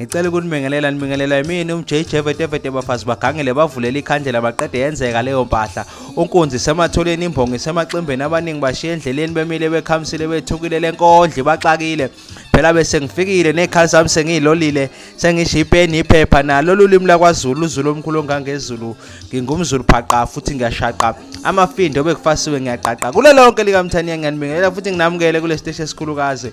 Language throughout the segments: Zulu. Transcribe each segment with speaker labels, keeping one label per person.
Speaker 1: ngicela ukunibingelela nibingelela yimini umjj vetevete bafazi bagangele bavulele ikhandlela baqede yenzeka leyo mpahla unkunzi sematholeni imbongo isemaximbeni abaningi bashiye endleleni bemile bekhamisile bethukile le nkondli baxakile phela bese ngifikile nezikhali zami sengiyilolile sengisho ipeni iphepha nalo lulimi lakwazulu uzulu omkhulu ongangezulu ngingumzulu phaqa futhi ngiyashaqa amafindo obekufasiwe ngiyaqaqa kulo lonke likamthaniya ngiyanibingelela futhi nginamukele kule siteshi esikhulukazi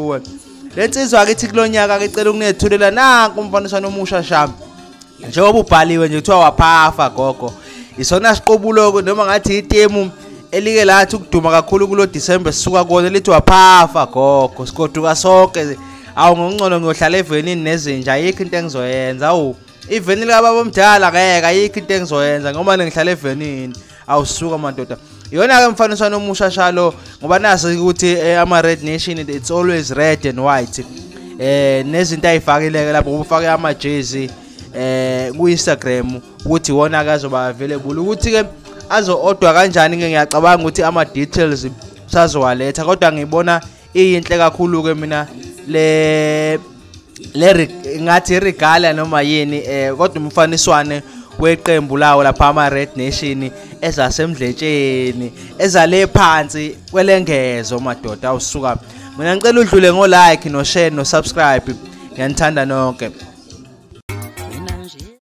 Speaker 1: kuwe le nsizwa ke ithi kulonyaka ke cela ukunethulela nanku umfaniswano omusha shami njengoba ubhaliwe nje kuthiwa waphafa gogo isona siqobulo noma ngathi itemu elike lathi ukuduma kakhulu kulo December sisuka kona lithi waphafa gogo sikoduka sonke awu ngongcono ngiyohlala evenini nezinja ayikho into engizoyenza awu iveni likababa omdala ngeke ayikho into engizoyenza ngoba nengihlala evenini awusuka madoda iyona ke mfaniswano omusha shalo ngoba naso ukuthi eh, ama red nation it's always red and white eh nezinto ayifakileke lapho ubufake ama jersey eh ku Instagram ukuthi wona akazoba available ukuthi ke azo odwa kanjani ngiyacabanga ukuthi ama details sazowaletha kodwa ngibona iyinhle kakhulu ke mina le le ngathi regala noma yini eh kodwa umfaniswane weqembu lawo lapha ama Red Nation ezasemdletsheni ezale phansi kwelengezo madoda usuka mina ngicela udlule ngo like no share no subscribe ngiyanithanda nonke